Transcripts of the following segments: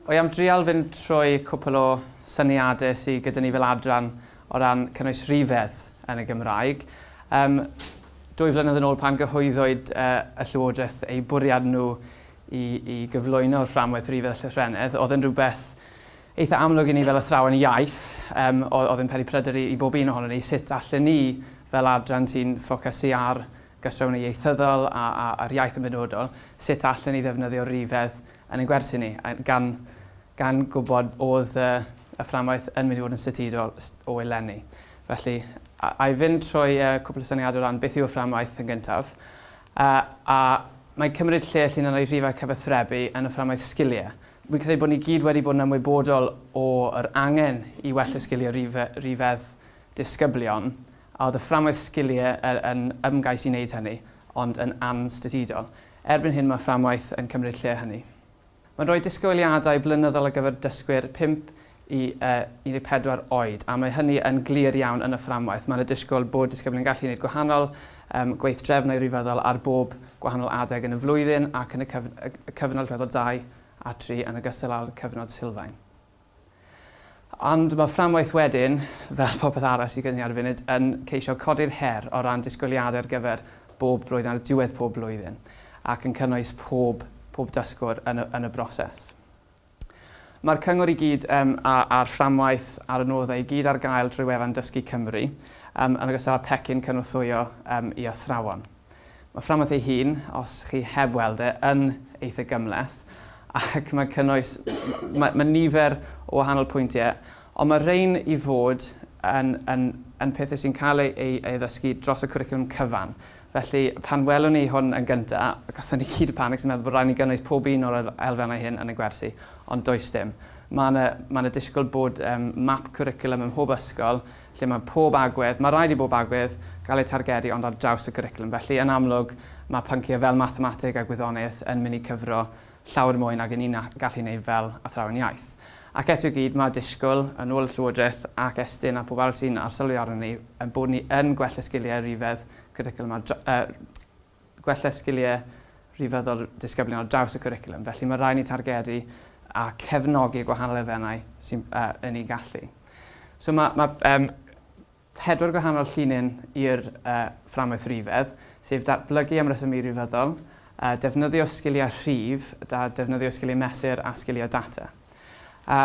Wi am drial fynd trwy cwpl o syniadau sy gyda ni fel adran o ran cynnwys rhifedd yn y Gymraeg. Yym, dwy flynedd yn ôl pan gyhoeddwyd y Llywodraeth eu bwriad nhw i, i gyflwyno'r fframwaith rhifedd a llythrennedd, oedd yn rhywbeth eitha amlwg i ni fel athrawon iaith, um, oedd yn peri pryder i, i bob un ohono ni, sut allan ni fel adran sy'n ffocysu ar Gostwng ieithyddol a a'r iaith yn benodol, sut allen ni ddefnyddio rifedd yn ein gwersi ni, gan gan gwybod oedd y y fframwaith yn mynd i fod yn statudol o eleni. Felly, a a i fynd trwy y cwpl o syniadau o ran beth yw'r fframwaith yn gyntaf, a a mae'n cymryd lle lle na roi rhifau cyfathrebu yn y fframwaith sgiliau. Fi'n credu bod ni gyd wedi bod yn ymwybodol o yr angen i wella sgiliau rife- rifedd disgyblion, a oedd y fframwaith sgiliau yn ymgais i wneud hynny, ond yn anstytudol. Erbyn hyn mae fframwaith yn cymryd lle hynny. Mae'n rhoi disgwyliadau blynyddol ar gyfer dysgwyr 5 i 14 oed, a mae hynny yn glir iawn yn y fframwaith. Mae yna disgwyl bod disgyblion yn gallu gwneud gwahanol gweithdrefnau rhyfeddol ar bob gwahanol adeg yn y flwyddyn ac yn y cyfnod rhyfeddol 2 a 3 yn ogystal â'r cyfnod sylfaen. Ond mae fframwaith wedyn, fel popeth arall sydd gen i ar y funud, yn ceisio codi'r her o ran disgwyliadau ar gyfer bob blwyddyn, ar diwedd pob blwyddyn, ac yn cynnwys pob, pob dysgwr yn y, yn y broses. Mae'r cyngor i gyd um, a, a'r fframwaith a'r adnoddau i gyd ar gael drwy wefan Dysgu Cymru, um, yn ogystal â pecyn cynorthwyo um, i athrawon. Mae Fframwaith ei hun, os chi heb weld e, yn eitha gymhleth ac mae'n cynnwys... mae, mae nifer o wahanol pwyntiau, ond mae rhain i fod yn, yn, yn pethau sy'n cael ei, ei, ei ddysgu dros y cwricwlwm cyfan. Felly, pan welwn ni hwn yn gyntaf, gatho ni gyd panic sy'n meddwl bod rhaid ni gynnwys pob un o'r elfennau hyn yn y gwersi, ond does dim. Mae yna, mae yna disgwyl bod um, map cwricwlwm ym mhob ysgol lle mae pob agwedd, mae rhaid i bob agwedd gael eu targedu ond ar draws y cwricwlwm. Felly, yn amlwg, mae pynciau fel mathemateg a gwyddoniaeth yn mynd i cyfro llawer mwy nag 'yn ni'n gallu wneud fel athrawon iaith. Ac eto i gyd, mae disgwyl, yn ôl y Llywodraeth ac Estyn a phawb arall sy'n arsylwi arnon ni, ein bod ni yn gwella sgiliau rhifedd cwricwlwm ar dra-, er, gwella sgiliau rhyfeddol disgyblion ar draws y cwricwlwm, felly mae rhaid ni targedu a cefnogi gwahanol elfennau sy'n yn ei gallu. So mae, mae um, pedwar gwahanol llinyn i'r uh, fframwaith rifedd, sef datblygu am resymau rifeddol, uh, defnyddio sgiliau rhif, da, defnyddio sgiliau mesur a sgiliau data. A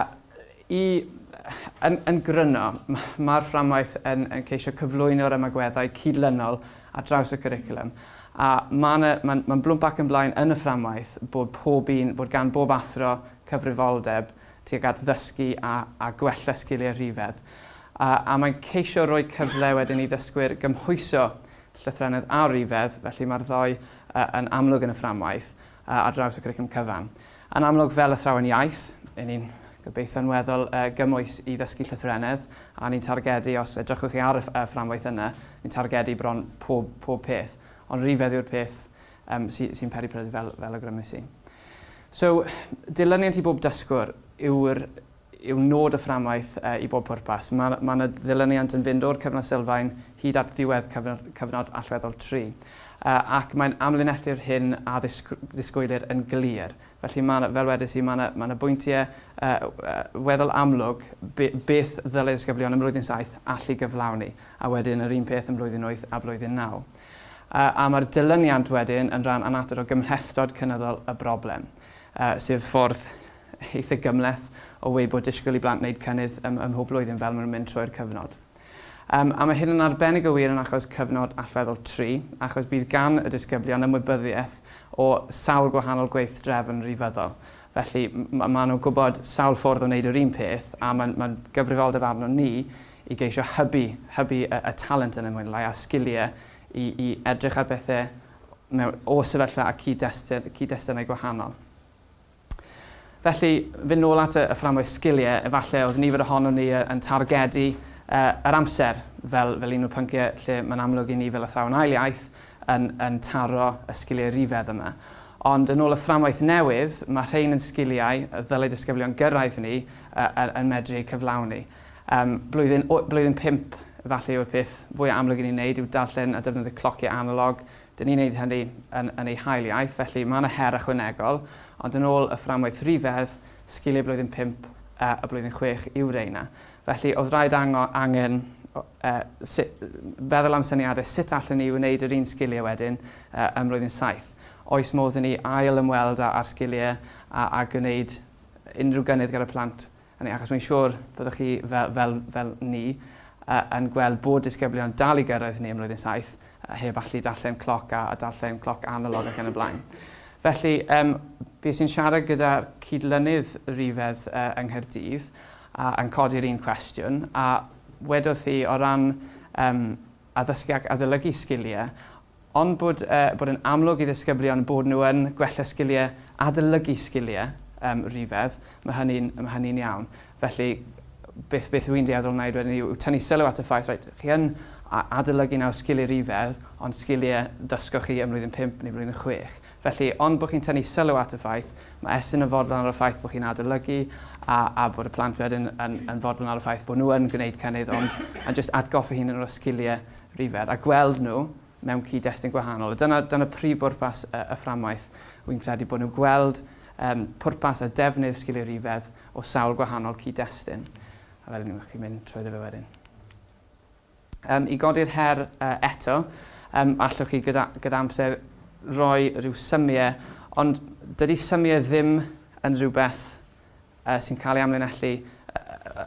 i, yn, yn gryno, mae'r fframwaith yn, yn ceisio cyflwyno'r ymagweddau cydlynol ar draws y cwricwlwm. A mae'n ma ma blwmp ac yn blaen yn y fframwaith bod pob un, bod gan bob athro cyfrifoldeb tuag at ddysgu a, a gwella sgiliau rhifedd. A, a mae'n ceisio rhoi cyfle wedyn i ddysgwyr gymhwyso llythrennedd a rhifedd, felly mae'r ddoi uh, yn amlwg yn y fframwaith. ar draws y cwricwlwm cyfan. Yn amlwg, fel athrawon iaith, y ni'n gobeithio yn weddol gymwys i ddysgu llythrennedd, a ni'n targedu, os edrychwch chi ar y fframwaith yna, ni'n targedu bron pob, pob peth, ond rhifedd yw'r peth um, sy, sy'n peri pryder fel, fel y grymus i. So, dilyniant i bob dysgwr yw'r yw nod y fframwaith i bob pwrpas. Mae yna ddilyniant yn fynd o'r cyfnod sylfaen hyd at ddiwedd cyfnod allweddol tri, ac mae'n amlinellu'r hyn a ddisgwylir yn glir. Felly, fel wedes i, mae yna bwyntiau weddol amlwg beth ddylai disgyblion ym Mlwyddyn Saith allu gyflawni, a wedyn yr un peth ym Mlwyddyn Wyth a Blwyddyn Naw. A mae'r dilyniant wedyn yn rhan annatod o gymhlethdod cynyddol y broblem, sef ffordd eitha gymhleth o weu bod disgwyl i blant wneud cynnydd ym mhob blwyddyn fel maen nhw'n mynd trwy'r cyfnod. Um, a mae hyn yn arbennig o wir yn achos cyfnod allweddol tri, achos bydd gan y disgyblion ymwybyddiaeth o sawl gwahanol gweithdrefn rifyddol. Felly mae ma nhw'n gwybod sawl ffordd o wneud yr un peth a mae'n ma gyfrifoldeb arno ni i geisio hybu, hybu y, y talent yn y lai a'r sgiliau i, i edrych ar bethau mewn, o sefyllfa a cyd-destunau gwahanol. Felly, fynd nôl at y fframwaith sgiliau, efallai oedd nifer ohonon ni yn targedu yr amser fel un o'r pynciau lle mae'n amlwg i ni fel athrawon ail iaith yn taro y sgiliau rhyfedd yma. Ond yn ôl y fframwaith newydd, mae rhein yn sgiliau y ddylai disgyblion gyrraedd ni yn medru eu cyflawni. Blwyddyn pump, efallai yw'r peth fwyaf amlwg i ni'n ei wneud yw darllen a defnyddio clociau analog, Dyn ni'n neud hynny yn yn ei hail iaith, felly mae yna her ychwanegol, ond yn ôl y fframwaith rhyfedd, sgiliau blwyddyn pump a a blwyddyn chwech yw reina. Felly, oedd raid ango- angen o- e, si- feddwl am syniadau sut allen ni wneud yr un sgiliau wedyn e, ym mlwyddyn saith. Oes modd i ni ail-ymweld â â'r sgiliau a a gwneud unrhyw gynnydd gyda'r plant Hynny achos mae'n siŵr byddwch chi, fel, fel, fel ni, yn gweld bod disgyblion dal i gyrraedd neu ym mlwyddyn saith heb allu darllen cloc a, a darllen cloc analog ac yn y blaen. Felly, um, bys i'n siarad gyda cydlynydd rifedd uh, yng Nghaerdydd a, yn codi'r un cwestiwn a wedodd hi o ran um, addysgu ac adolygu sgiliau, Ond bod e bod yn amlwg i ddisgyblion bod nhw yn gwella sgiliau, adolygu sgiliau yym rhifedd, mae hynny'n mae hynny'n iawn. Felly beth beth wy'n dueddol wneud wedyn yw yw tynnu sylw at y ffaith reit, chi yn a- adolygu nawr sgiliau rhifedd, ond sgiliau ddysgoch chi ym mlwyddyn pump neu flwyddyn chwech. Felly, ond bod chi'n tynnu sylw at y ffaith, mae Estyn yn fodlon ar y ffaith bod chi'n adolygu a a bod y plant wedyn yn yn fodlon ar y ffaith bod nhw yn gwneud cynnydd ond a jyst atgoffa hi'n un o'r sgiliau rhyfedd a gweld nhw mewn cyd-destun gwahanol. A dyna, dyna prif bwrpas y, y fframwaith. Wy'n credu bod nhw'n gweld um, pwrpas a defnydd sgiliau rhyfedd o sawl gwahanol cyd-destun. A fel yna, chi'n mynd trwy fe wedyn. Um, I godi'r her uh, eto, um, allwch chi gyda, gyda amser roi rhyw symiau, ond dydy symiau ddim yn rhywbeth sy'n cael ei amlinellu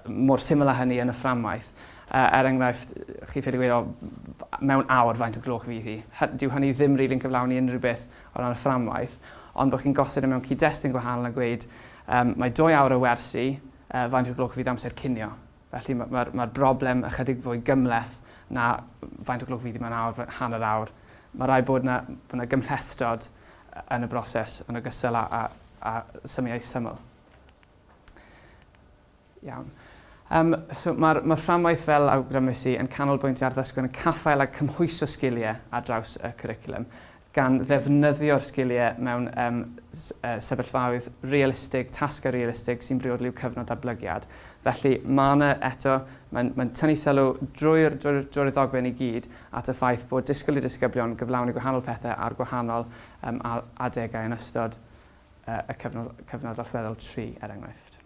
mor syml â hynny yn y fframwaith. Er enghraifft, chi'n ffili gweud, o, mewn awr faint o gloch fydd hi. Dyw hynny ddim rili'n really cyflawni unrhyw beth o ran y fframwaith, ond bod chi'n gosod e mewn cyd-destun gwahanol a gweud, um, mae dwy awr o wersi, uh, faint o gloch fydd amser cinio. Felly mae'r mae'r broblem ychydig fwy gymhleth na faint o glwc fydd i mewn awr, hanner awr. Mae rhaid bod yna, bod yna gymhlethdod yn y broses yn ogystal â, â, â symiau syml. Iawn. Um, so Mae'r mae fframwaith fel awgrymus i yn canolbwyntio ar ddysgwyr yn caffael a cymhwyso sgiliau ar draws y cwricwlwm. gan ddefnyddio'r sgiliau mewn sefyllfaoedd realistig, tasgau realistig sy'n briodol i'w cyfnod datblygiad. Felly, mae yna eto, mae'n mae'n tynnu sylw drwy'r drwy'r drwy'r ddogfen i gyd at y ffaith bod disgwyl i ddisgyblion gyflawni gwahanol pethau ar gwahanol um, adegau yn ystod uh, y cyfnod, cyfnod allweddol tri, er enghraifft.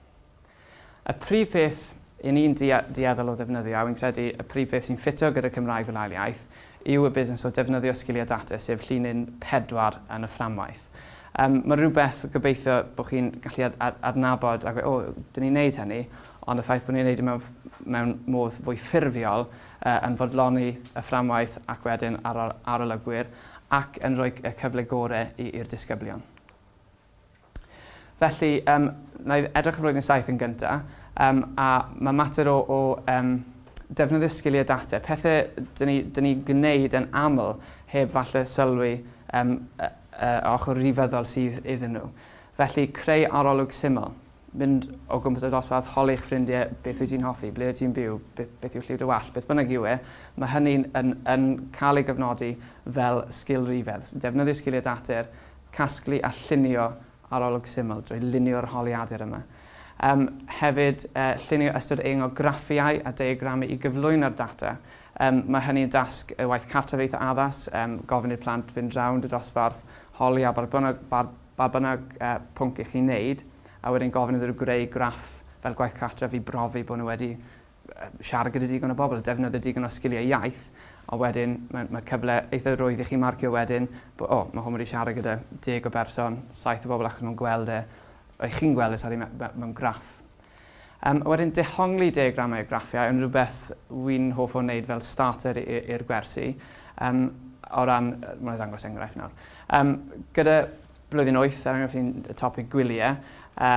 Y prif peth i ni'n dueddol o ddefnyddio, a wi'n credu y prif beth sy'n ffito gyda Cymraeg fel ail iaith, yw y busnes o defnyddio sgiliau data, sef llinyn pedwar yn y fframwaith. Yym, mae rhywbeth gobeithio bod chi'n gallu adnabod a gweud, o, dyn ni'n neud hynny, ond y ffaith bod ni'n neud e mewn, mewn modd fwy ffurfiol, yy, yn fodloni y fframwaith ac wedyn ar ol arolygwyr, ac yn rhoi y cyfle gore i i'r disgyblion. Felly, um, na i edrych y flwyddyn saith yn gyntaf, um, a mae mater o, o um, defnyddio sgiliau data, pethau dyn ni, dyn ni gwneud yn aml heb falle sylwi um, y, y ochr rifyddol sydd iddyn nhw. Felly, creu arolwg syml, mynd o gwmpas y dosbarth, holi eich ffrindiau beth wyt ti'n hoffi, ble wyt ti'n byw, beth, beth yw lliw dy wall, beth bynnag yw e, mae hynny'n yn, yn cael ei gyfnodi fel sgil rifedd. Defnyddio sgiliau dater, Casglu a llunio arolwg syml drwy lunio'r holiadur yma. Yym, hefyd, yy, llunio ystod eang o graffiau a deiagramau i gyflwyno'r data. Yym, mae hynny'n dasg y waith cartref eitha addas, yym, gofyn i'r plant fynd rownd y dosbarth, holi a barbynog, bar, barbynog uh, pwnc i chi wneud, a wedyn gofyn iddyn nhw greu graff fel gwaith cartref i brofi bod nhw wedi siarad gyda digon o bobl, defnyddio digon o sgiliau iaith, a wedyn mae, mae cyfle eitha rwydd i chi marcio wedyn, bod, o, oh, mae hwn wedi siarad gyda deg o berson, saith o bobl achos nhw'n gweld e, o'i chi'n gweld e, sori, mewn graff. Um, a wedyn dehongli diagramau a graffiau yn rhywbeth wy'n hoff o wneud fel starter i'r gwersi. Um, o ran, mae'n ddangos enghraifft nawr. Um, gyda Blwyddyn wyth, er enghraifft, un topig gwyliau, a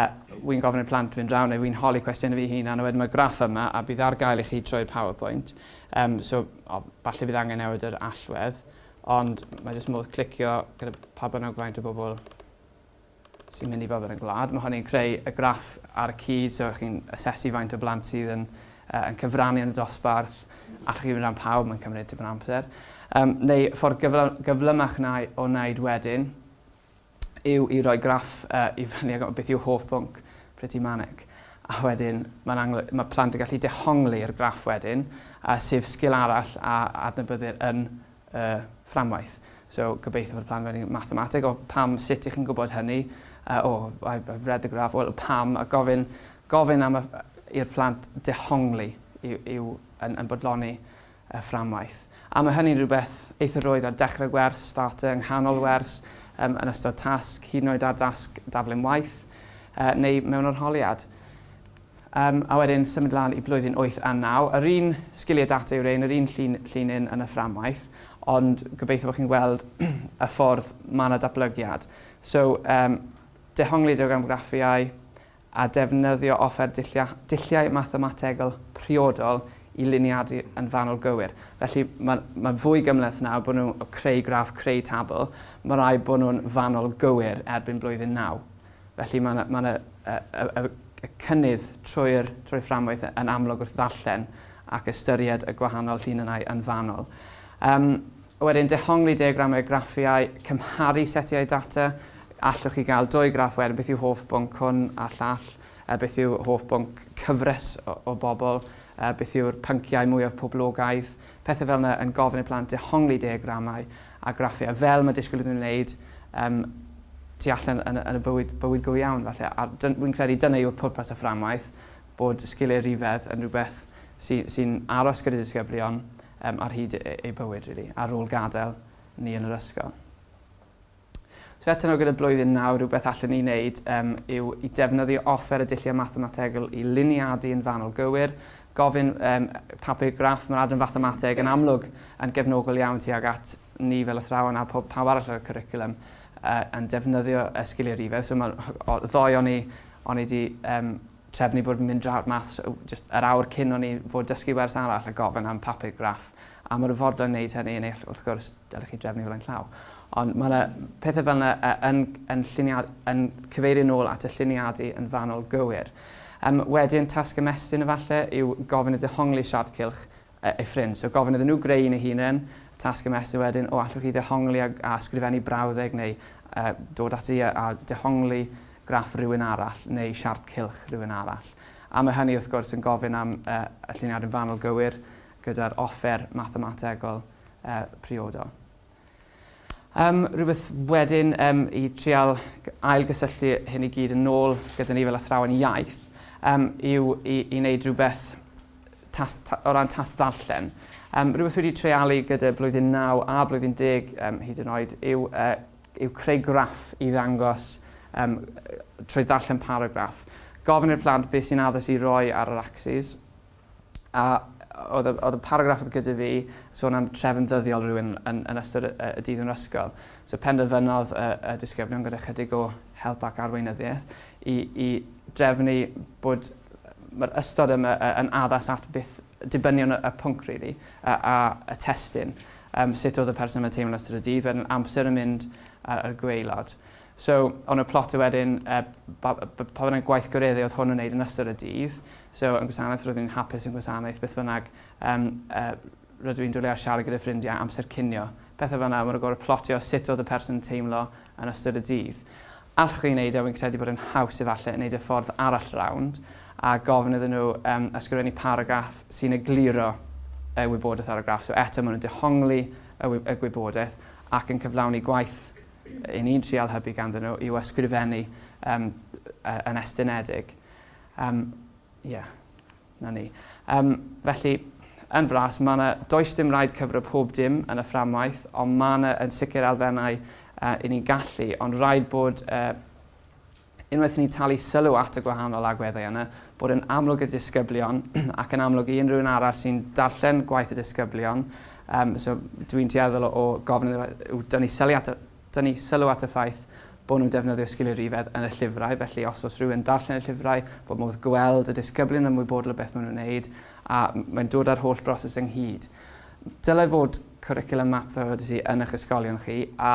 wi'n gofyn i'r plant fynd draw neu wi'n holi cwestiynau fi hunan a wedyn mae graff yma a bydd ar gael i chi trwy'r powerpoint. Um, so, o, falle bydd angen newid yr allwedd, ond mae jyst modd clicio gyda pa bynnag faint o bobl sy'n mynd i fod yn y gwlad. Mae hynny'n creu y graff ar y cyd, so chi'n asesu faint o blant sydd yn yn cyfrannu yn y dosbarth, allwch chi fynd am pawb, mae'n cymryd tipyn o amser. Um, neu ffordd gyflymach na o wneud wedyn yw i roi graff uh, i fyny ag beth yw hoff bwnc Pretty Manic. A wedyn mae, mae plant yn gallu dehongli i'r graff wedyn, a sef sgil arall a adnabyddir yn y fframwaith. So, gobeithio bod y plan wedi mathemateg, o pam, sut ych chi'n gwybod hynny? Uh, oh, I've, I've read the graph, well, pam, a gofyn, gofyn am i'r plant dehongli yw, yw yn, yn bodloni y fframwaith. A mae hynny'n rhywbeth eitha roedd ar dechrau gwers, starter, yng nghanol wers, um, yn ystod tasg, hyd yn oed ar dasg daflen waith, uh, neu mewn orholiad. Yym, a wedyn symud lan i blwyddyn wyth a naw. Yr un sgiliau data yw rhein, yr un llun, llun un yn y fframwaith, ond gobeithio bod chi'n gweld y ffordd mae 'na datblygiad. So, um, dehongliad o gamgraffiau a defnyddio offer dullia, dulliau mathemategol priodol i luniadu yn fanwl gywir. Felly mae'n ma fwy gymleth nawr bod nhw'n creu graff, creu tabl. Mae rai bod nhw'n fanwl gywir erbyn blwyddyn naw. Felly mae yna, mae yna y, y, y cynnydd trwy'r trwy fframwaith yn amlwg wrth ddarllen ac ystyried y gwahanol llinynnau yn fanol. Um, wedyn, dehongli diagramau a graffiau, cymharu setiau data, allwch chi gael dwy graff wedyn, beth yw hoff bwnc hwn a llall, a beth yw hoff bwnc cyfres o, o bobl, a beth yw'r pynciau mwyaf poblogaidd, Pethau fel yna yn gofyn i plant dehongli diagramau a graffiau fel mae disgwyl iddyn nhw wneud um, tu allan yn, yn y bywyd, bywyd go iawn falle. A wy'n credu dyna yw'r pwrpas o fframwaith, bod sgiliau rhifedd yn rhywbeth sy'n sy aros gyda disgyblion um, ar hyd e-, eu bywyd, really, ar ôl gadael ni yn yr ysgol. So eto nawr gyda blwyddyn naw, rhywbeth allen ni wneud um, yw i defnyddio offer y dulliau mathemategol i liniadu yn fanol gywir, gofyn um, papur graff, mae'r adran fathemateg yn amlwg yn gefnogol iawn tuag at ni fel athrawon a pob pawb arall ar y cwricwlwm uh, yn defnyddio y sgiliau rifedd. So mae'r ddoe o'n i, o'n i wedi um, trefnu bod fi'n mynd draw'r maths just yr awr cyn o'n i fod dysgu wers arall a gofyn am papur graff. A mae'r fodlon wneud hynny yn eill wrth gwrs Dylech chi drefnu flaen llaw. Ond mae yna pethau fel yna yn, yn, lliniad, yn cyfeirio nôl at y lliniadu yn fanwl gywir. Um, wedyn, tasg ymestyn efallai yw gofyn y dehongli siart cylch ei ffrind. So gofyn iddyn nhw greu un ei hunain, tasg ymestyn wedyn, o allwch chi ddehongli a, a sgrifennu brawddeg neu uh, dod ati a, a dehongli graff rhywun arall neu siart cylch rhywun arall. A mae hynny wrth gwrs yn gofyn am uh, y lliniad yn fanwl gywir gyda'r offer mathemategol priodol. Yym, rhywbeth wedyn yym, i trial ailgysylltu hyn i gyd yn ôl gyda ni fel athrawon iaith yym, yw i, i wneud rhywbeth tas, ta, o ran tas ddarllen. Um, rhywbeth wedi treialu gyda blwyddyn 9 a blwyddyn 10 um, hyd yn oed yw, uh, yw creu graff i ddangos um, trwy ddarllen paragraff. Gofyn i'r plant beth sy'n addys i roi ar yr axis A oedd y, oedd y paragraff oedd gyda fi sôn am trefn ddyddiol rhywun yn, yn ystod y, y dydd yn yr ysgol. So penderfynodd y, y disgyblion gyda chydig o help ac arweinyddiaeth i, i drefnu bod mae'r ystod yma yn addas at beth dibynion y, y pwnc really, a, a y testyn. Um, sut oedd y person yma teimlo'n ystod y dydd, wedyn amser yn mynd ar, ar gweilod. So, o'n nhw'n plotio wedyn pa bynnag gweithgareddau oedd hwn yn wneud yn ystod y dydd. So, yn gwasanaeth roeddwn i'n hapus yn gwasanaeth beth bynnag rydw i'n dwlu ar siarad gyda ffrindiau, amser cinio, pethau fel yna. Maen nhw'n gorfod plotio sut oedd y person yn teimlo yn ystod y dydd. Allwch chi wneud e, wi'n credu bod e'n haws efallai wneud e ffordd arall rownd a gofyn iddyn nhw ysgrifennu paragraff sy'n egluro y wybodaeth ar y graff. So, eto maen nhw'n dehongli y gwybodaeth ac yn cyflawni gwaith Yn ni'n trial hybu ganddyn nhw yw ysgrifennu um, yn estynedig. Um, yeah, na ni. Um, felly, yn fras, mae yna does dim rhaid cyfro pob dim yn y fframwaith, ond mae yna yn sicr elfennau uh, i ni'n gallu, ond rhaid bod uh, Unwaith i ni talu sylw at y gwahanol agweddau yna, bod yn amlwg i'r disgyblion ac yn amlwg i unrhyw un arall sy'n darllen gwaith y disgyblion, um, so dwi'n tueddol o, o gofyn yw dynnu sylw at y dynnu sylw at y ffaith bod nhw'n defnyddio sgiliau rhifedd yn y llyfrau, felly os oes rhywun darllen y llyfrau, bod modd gweld y disgyblion yn ymwybodol o beth maen nhw'n wneud, a mae'n dod â'r holl broses ynghyd. Dylai fod cwricwlwm map fel wedi ti yn eich ysgolion chi, a